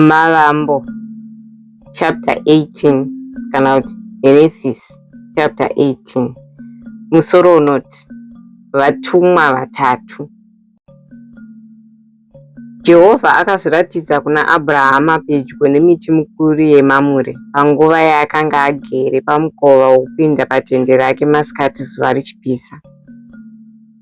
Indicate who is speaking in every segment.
Speaker 1: Mavambo chapter 18 kana kuti Genesis chapter 18 musoro unoti vatumwa vatatu. Jehovha akazviratidza kuna Abrahama pedyo nemiti mikuru yeMamure panguva yaakanga agere pamukova wokupinda patende rake masikati zuva richipisa.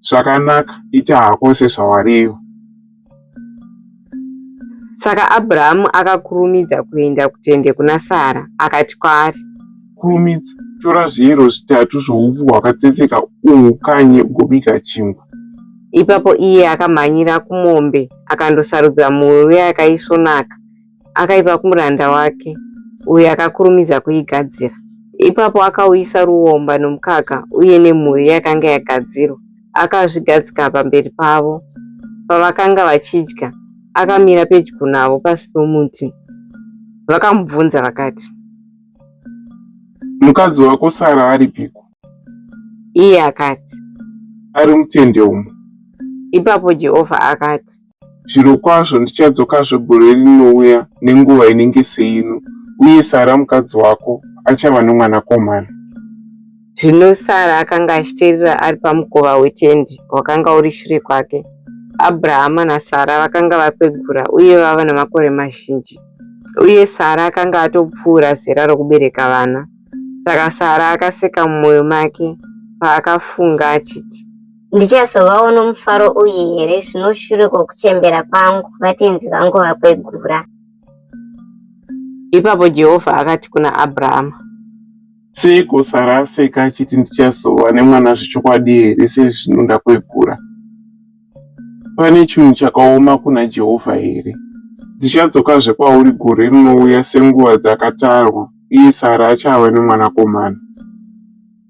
Speaker 1: Zvakanaka,
Speaker 2: ita hako sezvawariva.
Speaker 1: Saka Abrahamu akakurumidza kuenda kutende kuna Sara, akati kwaari, Kurumidza,
Speaker 2: tora zviyero zvitatu zvoupfu hwakatsetseka uhukanye ugobika chingwa. Ipapo
Speaker 1: iye akamhanyira kumombe akandosarudza mhuru yakaisvonaka akaipa kumuranda wake, uyo akakurumidza kuigadzira. Ipapo akauyisa ruomba nomukaka uye nemhuri yakanga yagadzirwa, akazvigadzika pamberi pavo. Pavakanga vachidya, akamira pedyo navo pasi pomuti. Vakamubvunza vakati,
Speaker 2: Mukadzi wako Sara aripiko? Iye
Speaker 1: akati, Ari
Speaker 2: mutende umo. Ipapo
Speaker 1: Jehovha akati, Zvirokwazvo
Speaker 2: ndichadzokazve gore rinouya nenguva inenge seino, uye Sara mukadzi wako achava nomwanakomana.
Speaker 1: Zvino Sara akanga achiteerera ari pamukova wetendi wakanga uri shure kwake. Abrahama naSara vakanga vakwegura uye vava namakore mazhinji, uye Sara akanga atopfuura zera rokubereka vana. Saka Sara akaseka mumwoyo make paakafunga achiti, Ndichazovawo
Speaker 3: nomufaro uyu here zvino shure kwokuchembera kwangu vatenzi vangu vakwegura?
Speaker 1: Ipapo Jehovha akati kuna Abrahama. Seiko
Speaker 2: Sara aseka achiti ndichazova nemwana zvechokwadi here sezvino ndakwegura? Pane chinhu chakaoma kuna Jehovha here? Ndichadzokazve kwauri gore rinouya senguva dzakatarwa, uye Sara achava nemwanakomana.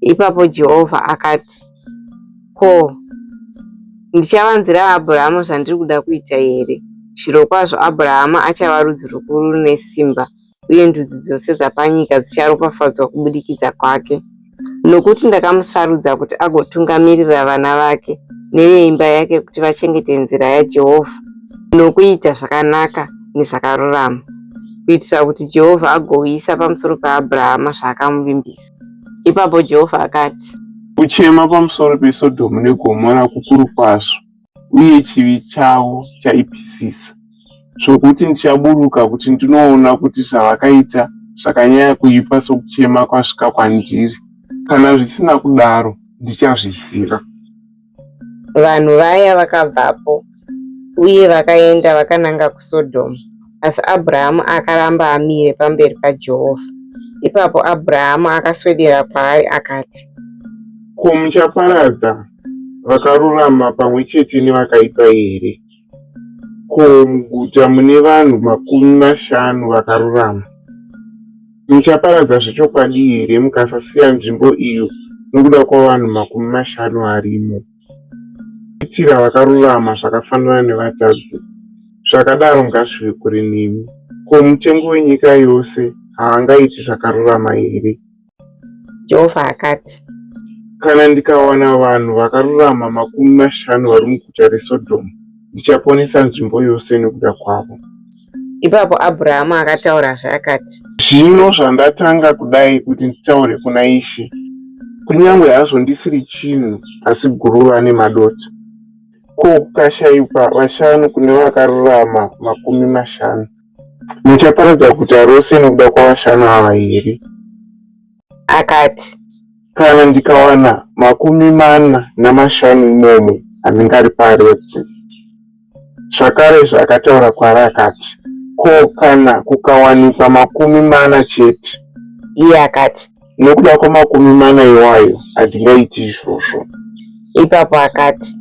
Speaker 1: Ipapo Jehovha akati, Ko, ndichavanzira Abhurahama zvandiri kuda kuita here? Zvirokwazvo Abhurahama achava rudzi rukuru rune simba, uye ndudzi dzose dzapanyika dzicharopafadzwa kubudikidza kwake. Nokuti ndakamusarudza kuti agotungamirira vana vake neveimba yake kuti vachengete nzira yaJehovha nokuita zvakanaka nezvakarurama, kuitira kuti Jehovha agouyisa pamusoro paAbrahama zvaakamuvimbisa. Ipapo Jehovha akati, Kuchema
Speaker 2: pamusoro peSodhomu neGomora kukuru kwazvo, uye chivi chavo chaipisisa, zvokuti ndichaburuka kuti ndinoona kuti zvavakaita zvakanyanya kuipa sokuchema kwasvika kwandiri, kana zvisina kudaro ndichazviziva.
Speaker 1: Vanhu vaya vakabvapo uye vakaenda vakananga kuSodhomu, asi Abrahamu akaramba amire pamberi paJehovha. Ipapo Abrahamu akaswedera kwaari akati, Ko
Speaker 2: muchaparadza vakarurama pamwe chete nevakaipa here? Ko muguta mune vanhu makumi mashanu vakarurama? Muchaparadza zvechokwadi here mukasasiya nzvimbo iyo nokuda kwavanhu makumi mashanu varimo? Kuitira vakarurama zvakafanana nevatadzi, zvakadaro ngazvive kure nemi. Ko mutengi wenyika yose haangaiti zvakarurama here? Jehovha
Speaker 1: akati, Kana
Speaker 2: ndikawana vanhu vakarurama makumi mashanu vari muguta reSodhomu, ndichaponesa nzvimbo yose nokuda kwavo. Ipapo
Speaker 1: Abhurahamu akataurazve akati, Zvino
Speaker 2: zvandatanga kudai kuti nditaure kuna Ishe, kunyange hazvo ndisiri chinhu asi guruva nemadota, ko kukashayikwa vashanu kune vakarurama makumi mashanu, Muchaparadza guta rose nokuda kwavashanu ava here?
Speaker 1: Akati, Kana
Speaker 2: ndikawana makumi mana namashanu imomo, handingariparadzi. Zvakarezve akataura kwaari akati, Ko kana kukawanikwa makumi mana chete? Iye akati,
Speaker 1: Nokuda kwamakumi
Speaker 2: mana iwayo handingaiti izvozvo. Ipapo
Speaker 1: akati.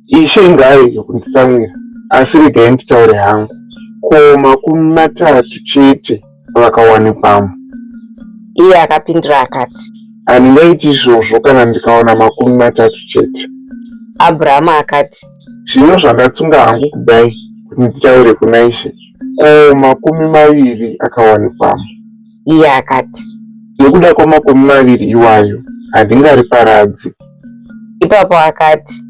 Speaker 1: Ishe
Speaker 2: ngaarege kunditsamwira, asi regai nditaure hangu. Ko makumi matatu chete vakawanikwamo?
Speaker 1: Iye akapindura akati. Handingaiti
Speaker 2: izvozvo kana ndikawana makumi matatu chete. Abrahamu
Speaker 1: akati. Zvino zvandatsunga
Speaker 2: hangu kudai kuti nditaure kuna Ishe, ko makumi maviri akawanikwamo? iye
Speaker 1: akati. Nekuda
Speaker 2: kwamakumi maviri iwayo handingariparadzi.
Speaker 1: Ipapo akati.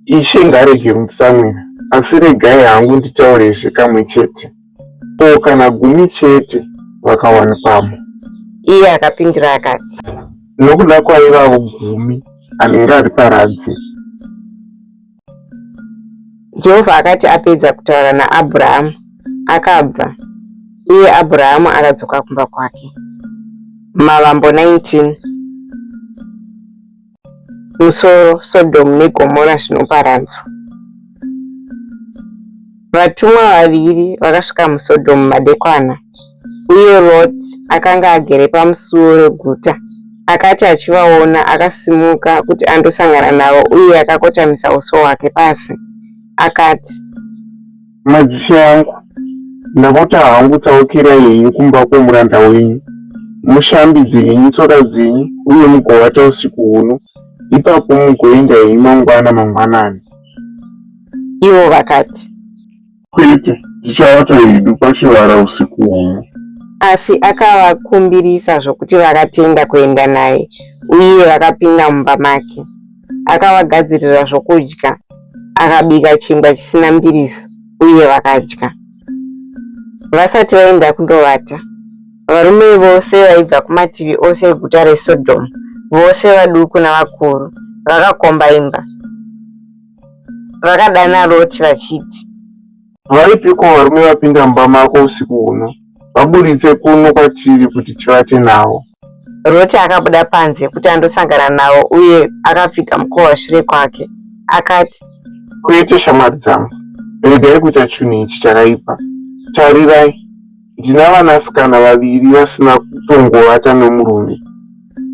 Speaker 1: Ishe
Speaker 2: ngarege mutsamwira, asi regai hangu nditaurezve kamwe chete. Ko kana gumi chete vakawanikwamo? Iye
Speaker 1: akapindura akati. Nokuda
Speaker 2: kwaivavo gumi handingariparadzi.
Speaker 1: Jehovha akati apedza kutaura naAbhurahamu, akabva, uye Abhurahamu akadzoka kumba kwake. Mavambo 19 Musoro Sodhomu neGomora zvinoparadzwa. Vatumwa vaviri vakasvika muSodhomu madekwana. uye Roti akanga agere pamusuwo reguta. Akati achivaona, akasimuka kuti andosangana navo uye akakotamisa uso hwake pasi. Akati,
Speaker 2: Madzishe angu, ndapota hangu tsaukirai henyu kumba kwomuranda wenyu, mushambidze henyu tsoka dzenyu uye mugovata usiku huno, ipapo mugoenda henyu mangwana mangwanani.
Speaker 1: Ivo vakati, Kwete,
Speaker 2: tichavata hedu pachivara usiku huno. Asi
Speaker 1: akavakumbirisa zvokuti vakatenda kuenda naye, uye vakapinda mumba make. Akavagadzirira zvokudya, akabika chingwa chisina mbiriso, uye vakadya. Vasati vaenda kundovata, varume vose vaibva kumativi ose eguta reSodhomu, vose vaduku navakuru, vakakomba imba. vakadana roti vachiti varipiko
Speaker 2: varume vapinda mumba mako usiku huno vaburitse kuno kwatiri kuti tivate navo roti
Speaker 1: akabuda panze kuti andosangana navo uye akapfiga mukova shure kwake akati kwete
Speaker 2: shamwari dzangu regai kuita chunhu ichi chakaipa tarirai Ndina vanasikana vaviri vasina kutongovata nomurume.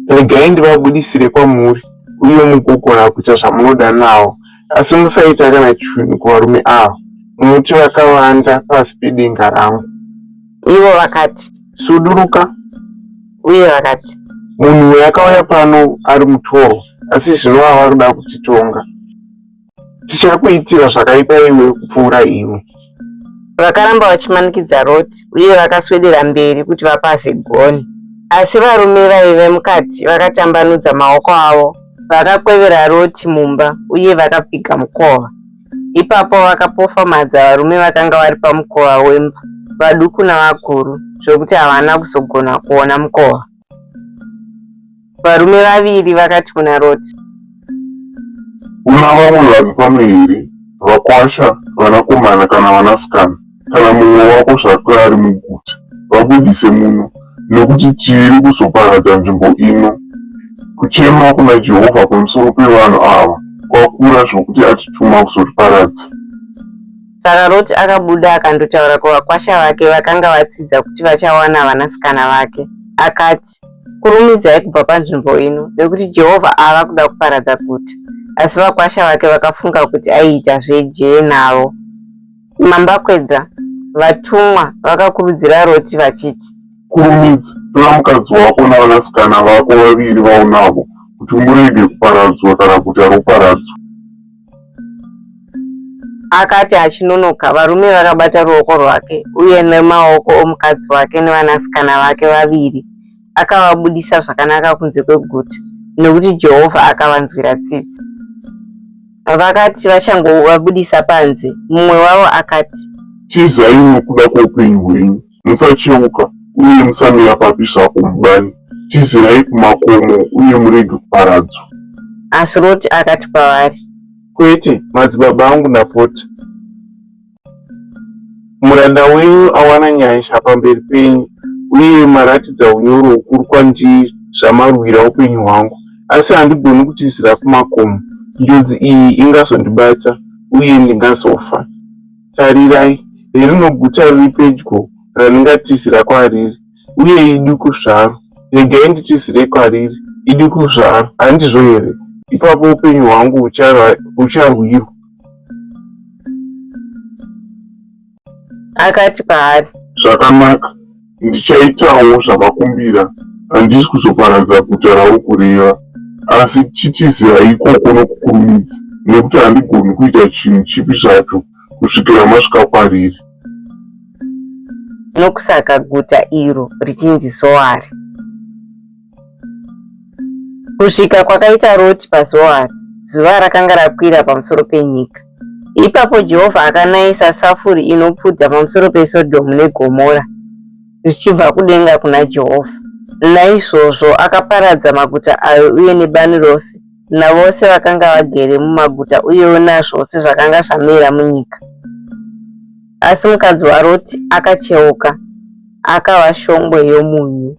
Speaker 2: Regai ndivabudisire kwamuri, uye mugogona kuita zvamunoda nawo, asi musaita kana chinhu kuvarume ava, nokuti vakavanda pasi pedenga rangu. Ivo
Speaker 1: vakati, Suduruka.
Speaker 2: Uye
Speaker 1: vakati, Munhu uyu akauya
Speaker 2: pano ari mutorwa, asi zvino ava kuda kutitonga. dzichakuitira zvakaipa iwe kupfuura iwe vakaramba
Speaker 1: vachimanikidza roti uye vakaswedera mberi kuti vapase goni asi varume vaive mukati vakatambanudza maoko avo vakakwevera roti mumba uye vakapfiga mukova ipapo vakapofamadza varume vakanga vari pamukova wemba vaduku navakuru zvekuti havana kuzogona kuona mukova Varume vaviri vakati kuna Roti.
Speaker 2: Una vamwe vanhu pano here, vakwasha, vanakomana kana vanasikana, kana mumwe wako zvake ari muguta? Vabudise muno, nekuti tiri kuzoparadza nzvimbo ino. Kuchema kuna Jehovha pamusoro pevanhu ava kwakura zvokuti atituma kuzotiparadza.
Speaker 1: Saka Roti akabuda akandotaura kuvakwasha vake vakanga vatsidza kuti vachawana vanasikana vake. Akati, Kurumidzai kubva panzvimbo ino, nekuti Jehovha ava kuda kuparadza guta. Asi vakwasha vake vakafunga kuti aiita zvejee navo. Mambakwedza, vatumwa vakakurudzira Roti vachiti, Kurumidza,
Speaker 2: tora mukadzi wako navanasikana vako vaviri vaunavo, kuti murege kuparadzwa kana guta roparadzwa.
Speaker 1: Akati achinonoka, varume vakabata ruoko rwake uye nemaoko omukadzi wake nevanasikana vake vaviri akavabudisa zvakanaka kunze kweguta nekuti Jehovha akavanzwira tsitsi. Vakati vachangovabudisa panze, mumwe wavo akati,
Speaker 4: Tizai nokuda kwoupenyu hwenyu. Musacheuka uye musamira papi zvapo mubani, tizirai kumakomo uye murege kuparadzwa. Asi
Speaker 1: Roti akati kwavari, Kwete,
Speaker 2: madzibaba angu napoti, muranda wenyu awana nyasha pamberi penyu, uye maratidza unyoro hukuru kwandiri zvamarwira upenyu hwangu, asi handigoni kutizira kumakomo, njodzi iyi ingazondibata uye ndingazofa. Tarirai, heri noguta riri pedyo randingatizira kwariri, uye iduku zvaro. Regai nditizire kwariri, iduku zvaro, handizvo here? Ipapo upenyu hwangu hucharwirwa.
Speaker 1: Akati kwaari. Zvakanaka.
Speaker 4: Ndichaitawo zvamakumbira, handisi kuzoparadza guta raukureva, asi chitizira ikoko nokukurumidza, nekuti handigoni kuita chinhu chipi zvacho kusvikira masvika kwariri.
Speaker 1: Nokusaka guta iro richinzi Zoari. Kusvika kwakaita Roti paZoari, zuva rakanga rakwira pamusoro penyika. Ipapo Jehovha akanayisa safuri inopfuta pamusoro peSodhomu neGomora zvichibva kudenga kuna Jehovha. Naizvozvo akaparadza maguta ayo uye nebani rose navose vakanga vagere mumaguta uyewo nazvose zvakanga zvamera munyika. Asi mukadzi waRoti akacheuka, akava shongwe yomunyu.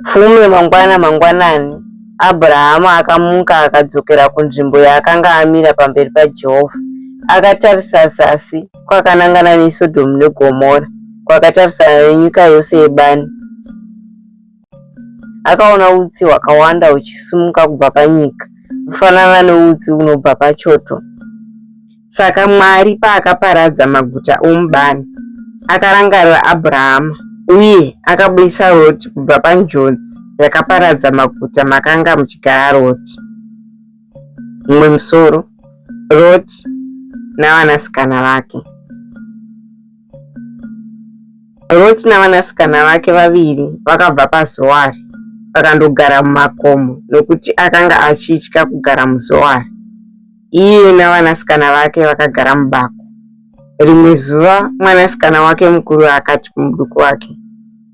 Speaker 1: Fume mangwana mangwanani, Abrahama akamuka akadzokera kunzvimbo yaakanga amira pamberi paJehovha. Akatarisa zasi kwakanangana neSodhomu neGomora, kwakatarisana nenyika yose yebani. Akaona utsi hwakawanda huchisimuka kubva panyika, kufanana neutsi unobva pachoto. Saka Mwari paakaparadza maguta omubani, akarangarira Abrahama uye akabudisa Roti kubva panjodzi yakaparadza maguta makanga muchigara Roti. Mumwe musoro, Roti navanasikana vake. Roti navanasikana vake vaviri vakabva paZoari vakandogara mumakomo nokuti akanga achitya kugara muZoari. Iye navanasikana vake vakagara mubako. Rimwe zuva mwanasikana wake mukuru akati kumuduku wake,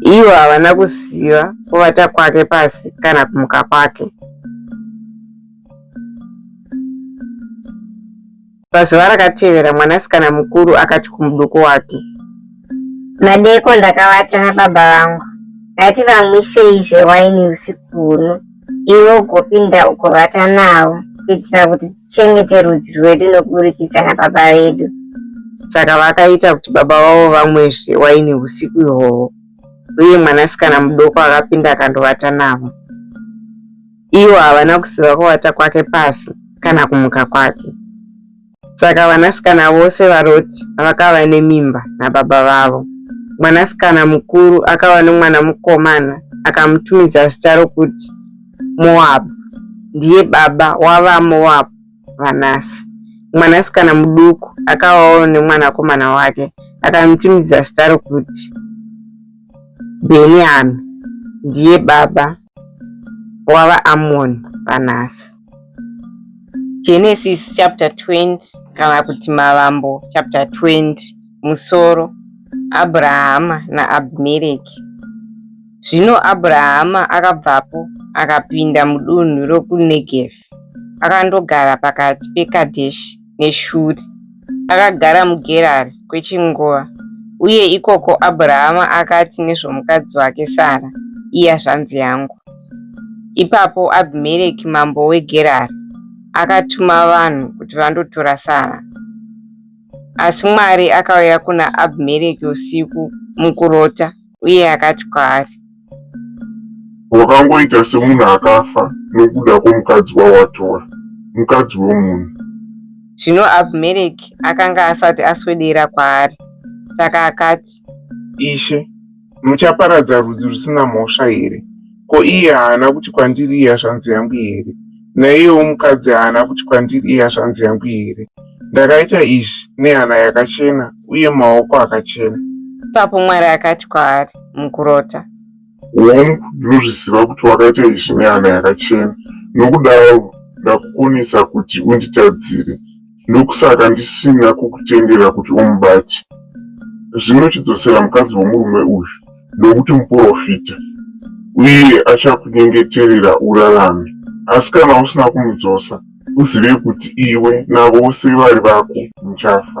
Speaker 1: Ivo havana kuziva kuvata kwake pasi kana kumuka kwake. Pazuva rakatevera mwanasikana mukuru akati kumuduku wake,
Speaker 3: Madeko ndakavata nababa vangu, ngati vamwisei zvewaini usiku huno. iwe ugopinda ugovata navo kuitira kuti tichengete rudzi rwedu nokuburikidza nababa vedu saka
Speaker 1: vakaita kuti baba vavo vamwezve waini usiku ihwohwo uye mwanasikana mudoko akapinda akandovata navo ivo havana kuziva kuvata kwake pasi kana kumuka kwake Saka vanasikana vose vaRoti vakava nemimba nababa vavo. Mwanasikana mukuru akava nomwana mukomana, akamutumidza zita rokuti Moabhu. Ndiye baba wavaMoabhu vanhasi. Mwanasikana muduku akavawo nemwanakomana wake, akamutumidza zita rokuti Bheniyami. Ndiye baba wavaAmoni vanhasi. Genesis chapter 20 kana kuti Mavambo chapter 20 musoro Abrahama naAbhimereki. Zvino Abrahama akabvapo akapinda mudunhu rokuNegevi akandogara pakati peKadheshi neshuri. Akagara muGerari kwechinguva, uye ikoko Abrahama akati nezvomukadzi wake Sara, Iya zvanzi yangu. Ipapo Abhimereki mambo weGerari akatuma vanhu kuti vandotora Sara. Asi Mwari akauya kuna Abhimereki usiku mukurota uye akati kwaari, Wakangoita
Speaker 4: semunhu akafa nokuda kwomukadzi wawatora, mukadzi womunhu. Zvino
Speaker 1: Abhimereki akanga asati aswedera kwaari, saka akati, Ishe,
Speaker 2: muchaparadza rudzi rusina mhosva here Ko iye haana kuti kwandiri iya zvanzi yangu here? Naiyewo mukadzi haana kuti kwandiri iya zvanzi yangu here? Ndakaita izvi nehana yakachena uye maoko akachena. Ipapo Mwari
Speaker 1: akati kwaari mukurota. Hongu,
Speaker 4: ndinozviziva kuti wakaita izvi nehana yakachena, nokudaro ndakukonesa kuti unditadzire. ndokusaka ndisina kukutendera kuti umubate. Zvino chidzosera mukadzi womurume uyu, nokuti muporofita, uye achakunyengeterera urarame. Asi kana usina kumudzosa, uzive kuti iwe navose vari vako muchafa.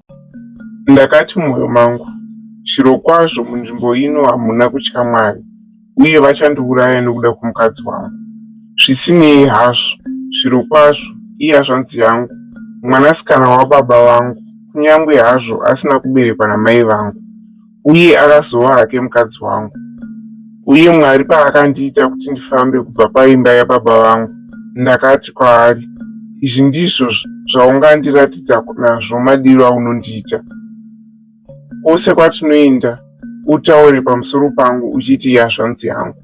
Speaker 2: Ndakati mumwoyo mangu, Zvirokwazvo munzvimbo ino hamuna kutya Mwari, uye vachandiuraya nokuda kwomukadzi wangu. Zvisinei hazvo, zvirokwazvo iye azvanzi yangu, mwanasikana wababa vangu, kunyange hazvo asina kuberekwa namai vangu. uye akazova hake mukadzi wangu. Uye Mwari paakandiita kuti ndifambe kubva paimba yababa vangu, ndakati kwaari, Izvi ndizvo zvaungandiratidza nazvo madiro aunondiita. Kwose kwatinoenda, utaure pamusoro pangu uchiti yazvanzi yangu.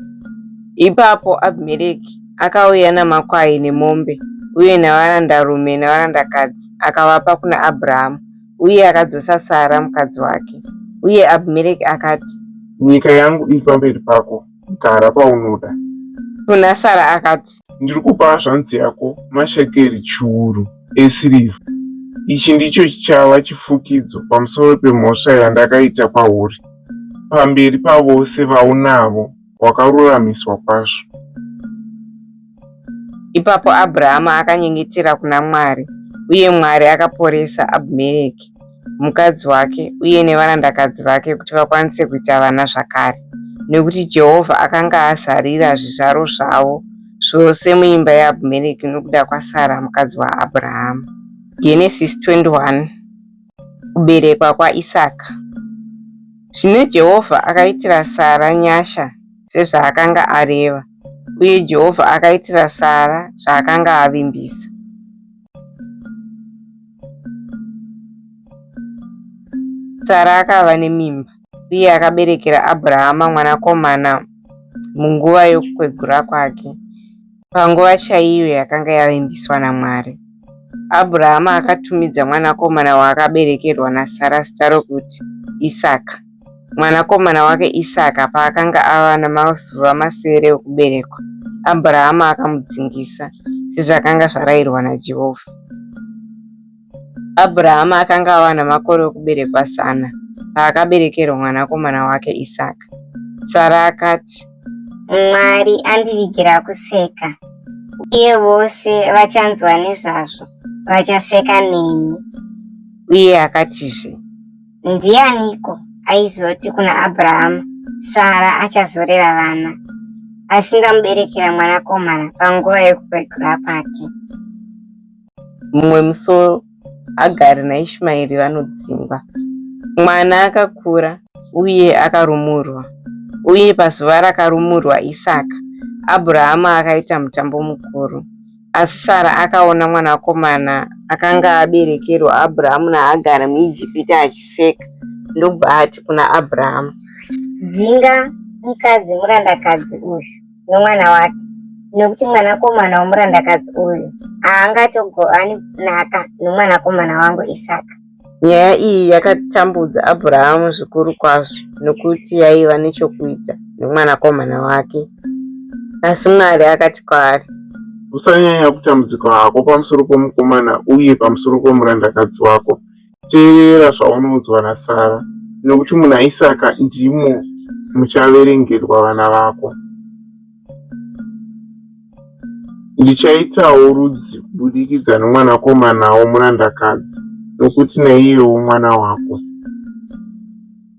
Speaker 2: Ipapo
Speaker 1: Abhimereki akauya namakwai nemombe uye navarandarume navarandakadzi akavapa kuna Abrahamu. uye akadzosa Sara mukadzi wake. Uye Abhimereki akati, Nyika yangu
Speaker 2: iri pamberi pako, gara paunoda. Kuna
Speaker 1: Sara akati, Ndiri kupa hazvanzi
Speaker 2: yako mashekeri chiuru esirivha. Ichi ndicho chichava chifukidzo pamusoro pemhosva yandakaita kwauri pamberi pavose vaunavo. wakaruramiswa kwazvo.
Speaker 1: Ipapo Abrahama akanyengetera kuna Mwari, uye Mwari akaporesa Abhimereki, mukadzi wake, uye nevarandakadzi vake kuti vakwanise kuita vana zvakare, nekuti Jehovha akanga azarira zvizvaro zvavo zvose muimba yaAbhimereki nokuda kwaSara mukadzi waAbrahama. Genesis 21. kuberekwa kwaIsaka. Zvino Jehovha akaitira Sara nyasha sezvaakanga areva, uye Jehovha akaitira Sara zvaakanga avimbisa. Sara akava nemimba uye akaberekera Abrahama mwanakomana munguva yokukwegura kwake. Panguva chaiyo yakanga yavimbiswa naMwari, Abhurahama akatumidza mwanakomana waakaberekerwa naSara zita rokuti Isaka. Mwanakomana wake Isaka paakanga ava namazuva masere okuberekwa, Abhurahama akamudzingisa, sezvakanga zvarayirwa naJehovha. Abhurahama akanga ava namakore okuberekwa zana paakaberekerwa mwanakomana wake Isaka. Sara akati, Mwari
Speaker 3: andivigira kuseka, uye vose vachanzwa nezvazvo vachaseka neni. Uye
Speaker 1: akatizve, Ndianiko
Speaker 3: aizoti kuna Abhurahama, Sara achazorera vana? Asi ndamuberekera mwanakomana panguva yokukwegura kwake.
Speaker 1: mumwe musoro agari naishmaeri vanodzingwa mwana akakura uye akarumurwa uye pazuva rakarumurwa isaka abrahama akaita mutambo mukuru asi sara akaona mwanakomana akanga aberekerwa abrahamu naagari muijipita achiseka ndobva ati kuna abrahamu dzinga
Speaker 3: mukadzi murandakadzi uyu nomwana wake nekuti mwanakomana womurandakadzi uyu haangatogowani kunaka nomwanakomana wangu isaka nyaya iyi
Speaker 1: yakatambudza abrahamu zvikuru kwazvo nokuti yaiva nechokuita nomwanakomana wake asi mwari akati kwaari usanyanya
Speaker 2: kutambudzika hako pamusoro pomukomana uye pamusoro pomurandakadzi wako teerera zvaunoudzwa naSara, nokuti muna Isaka ndimo muchaverengerwa vana vako. Ndichaitawo rudzi kubudikidza nomwanakomana womurandakadzi, nokuti naiyewo mwana wako.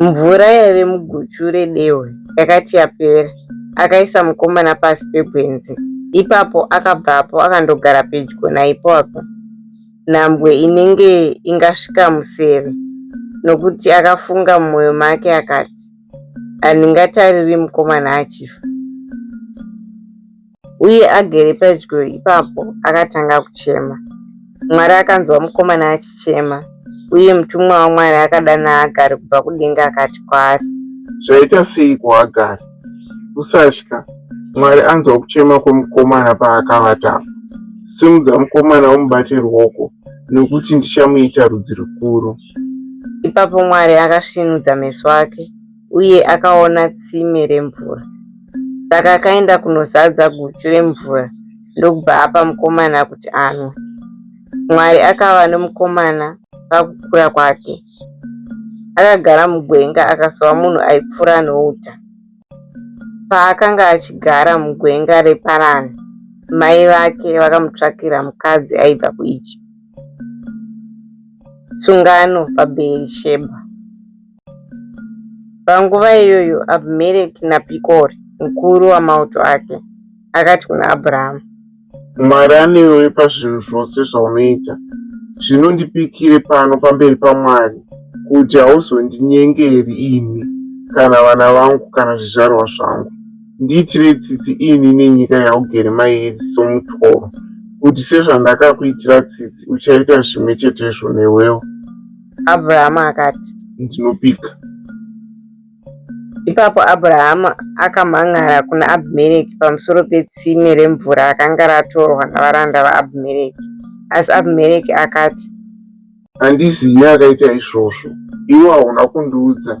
Speaker 1: Mvura yaive muguchu redehwe yakati yapera, akaisa mukomana pasi pegwenzi. Ipapo akabvapo akandogara pedyo naipapo, nhambwe inenge ingasvika museve, nokuti akafunga mumwoyo make akati, Handingatariri mukomana achifa. uye agere pedyo ipapo akatanga kuchema. Mwari akanzwa mukomana achichema, uye mutumwa waMwari akadana Hagari kubva kudenga akati kwaari, Zvaita
Speaker 2: seiko Hagari? Usatya, Mwari anzwa kuchema kwemukomana paakavata apa. Simudza mukomana umubate ruoko, nokuti ndichamuita rudzi rukuru. Ipapo
Speaker 1: Mwari akasvinudza meso ake uye akaona tsime remvura. Saka akaenda kunozadza guchu remvura ndokubva apa mukomana kuti anwe. Mwari akava nomukomana pakukura kwake. Akagara mugwenga akasova munhu aipfuura nouta. Paakanga achigara mugwenga reParani, mai vake vakamutsvakira mukadzi aibva kuIjipiti. Sungano paBheerishebha. Panguva iyoyo Abhimereki naPikori, mukuru wamauto ake, akati kuna Abhurahamu, Mwari
Speaker 2: anewe pazvinhu zvose zvaunoita. Zvino ndipikire pano pamberi paMwari kuti hauzondinyengeri ini kana vana vangu kana zvizvarwa zvangu. Ndiitire tsitsi ini nenyika yaugere mairi somutoro, kuti sezvandakakuitira tsitsi uchaita zvimwe chetezvo newewo. Abrahama
Speaker 1: akati, Ndinopika. Ipapo Abrahama akamhan'ara kuna Abhimereki pamusoro petsime remvura rakanga ratorwa navaranda vaAbhimereki. Asi Abhimereki akati, Handizivi
Speaker 2: akaita izvozvo. Iwe hauna kundiudza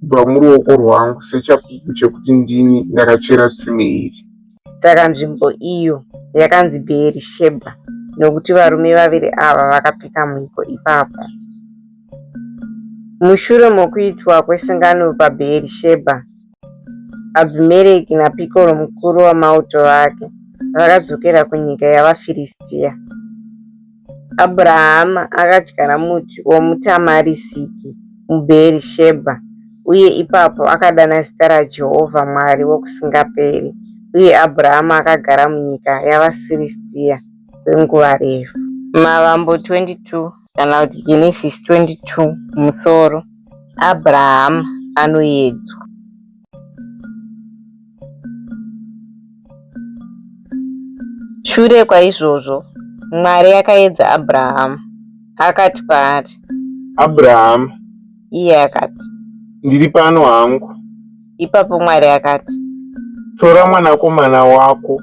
Speaker 2: kubva muruoko rwangu sechapupu chekuti ndini ndakachera tsime iri. Saka nzvimbo
Speaker 1: iyo yakanzi Bheerishebha nokuti varume vaviri ava vakapika mhiko ipapo. Mushure mokuitwa kwesungano paBheerishebha, Abhimereki naPikoro mukuru wamauto ake vakadzokera kunyika yavaFiristia. Abrahama akadyara muti womutamarisiki muBheerishebha, uye ipapo akadana zita raJehovha Mwari Wokusingaperi. Uye Abrahama akagara munyika yavaFiristia kwenguva refu. Mavambo 22 kana kuti Genesisi 22 kumusoro, Abrahama anoedzwa. Shure kwaizvozvo, Mwari akaedza Abrahamu, akati kwaari, Abrahamu,
Speaker 2: iye
Speaker 1: akati, ndiri pano
Speaker 2: hangu. Ipapo
Speaker 1: Mwari akati, Tora
Speaker 2: mwanakomana wako.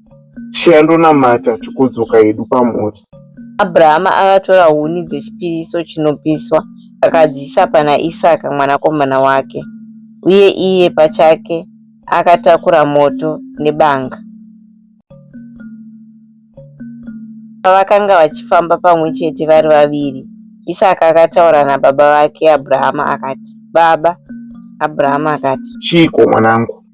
Speaker 2: chiya ndonamata
Speaker 1: tikodzoka hedu pamhuri abrahama
Speaker 2: akatora
Speaker 1: huni
Speaker 2: dzechipiriso chinopiswa
Speaker 1: akadziisa pana isaka mwanakomana wake uye iye pachake akatakura moto nebanga pavakanga vachifamba pamwe chete vari vaviri isaka akataura nababa vake abrahama akati baba abrahama akati chiiko mwanangu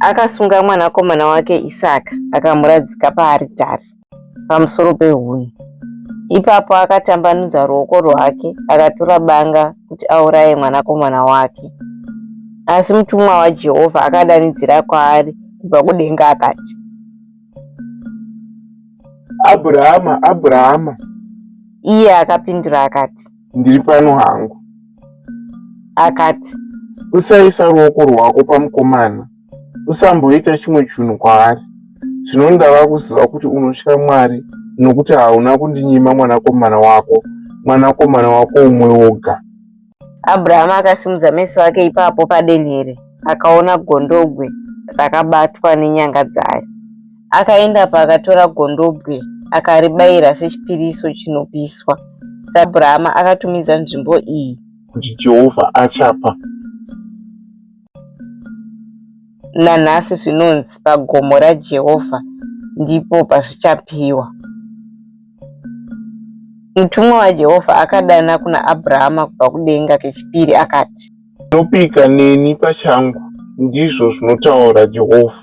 Speaker 1: Akasunga mwanakomana wake Isaka akamuradzika paaritari pamusoro pehuni. Ipapo akatambanudza ruoko rwake akatura banga kuti auraye mwanakomana wake. Asi mutumwa waJehovha akadanidzira kwaari kubva kudenga akati,
Speaker 2: Abhurahama, Abhurahama! Iye
Speaker 1: akapindura akati, ndiri pano
Speaker 2: hangu
Speaker 1: akati
Speaker 2: usaisa ruoko rwako pamukomana usamboita chimwe chinhu kwaari zvino ndava kuziva kuti unotya mwari nokuti hauna kundinyima mwanakomana wako mwanakomana wako umwe woga abrahama
Speaker 1: akasimudza meso ake ipapo padenhere akaona gondogwe rakabatwa nenyanga dzayo Akaenda paakatora gondobwe akaribayira sechipiriso chinopiswa. Abrahama akatumidza nzvimbo iyi kuti Jehovha
Speaker 2: achapa.
Speaker 1: Nanhasi zvinonzi pagomo raJehovha ndipo pazvichapiwa. Mutumwa waJehovha akadana kuna Abrahama kubva kudenga kechipiri akati, Unopika
Speaker 2: neni pachangu, ndizvo zvinotaura Jehovha.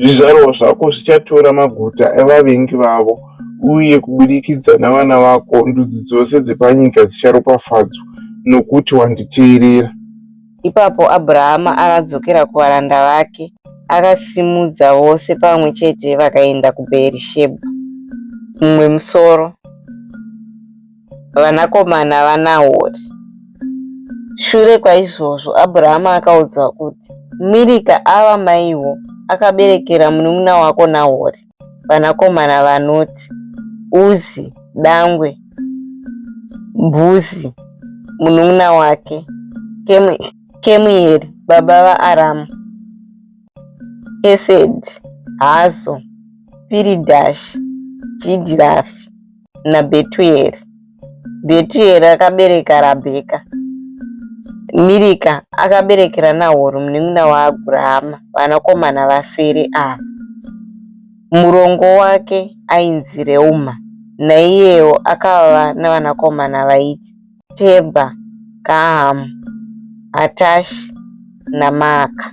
Speaker 2: Zvizvarwa zvako zvichatora maguta evavengi vavo, uye kubudikidza navana vako ndudzi dzose dzepanyika dzicharopafadzwa, nokuti wanditeerera. Ipapo
Speaker 1: Abrahama akadzokera kuvaranda vake, akasimudza vose pamwe chete vakaenda kuBheerishebha mumwe musoro. vanakomana vaNahori. Shure kwaizvozvo Abhurahama akaudzwa kuti, Mirika ava maiwo akaberekera munun'una wako Nahori vanakomana vanoti Uzi, dangwe, Bhuzi, munun'una wake, Kemueri, baba vaAramu, Esedi, Hazo, Piridhashi, Jidhirafi. naBhetueri. Bhetueri akabereka Rabheka. Mirika akaberekera Nahori munin'ina waAbrahama vanakomana vasere ava. Murongo wake ainzi Reuma, naiyewo akava navanakomana vaiti Tebha, Gahamu, Hatashi naMaaka.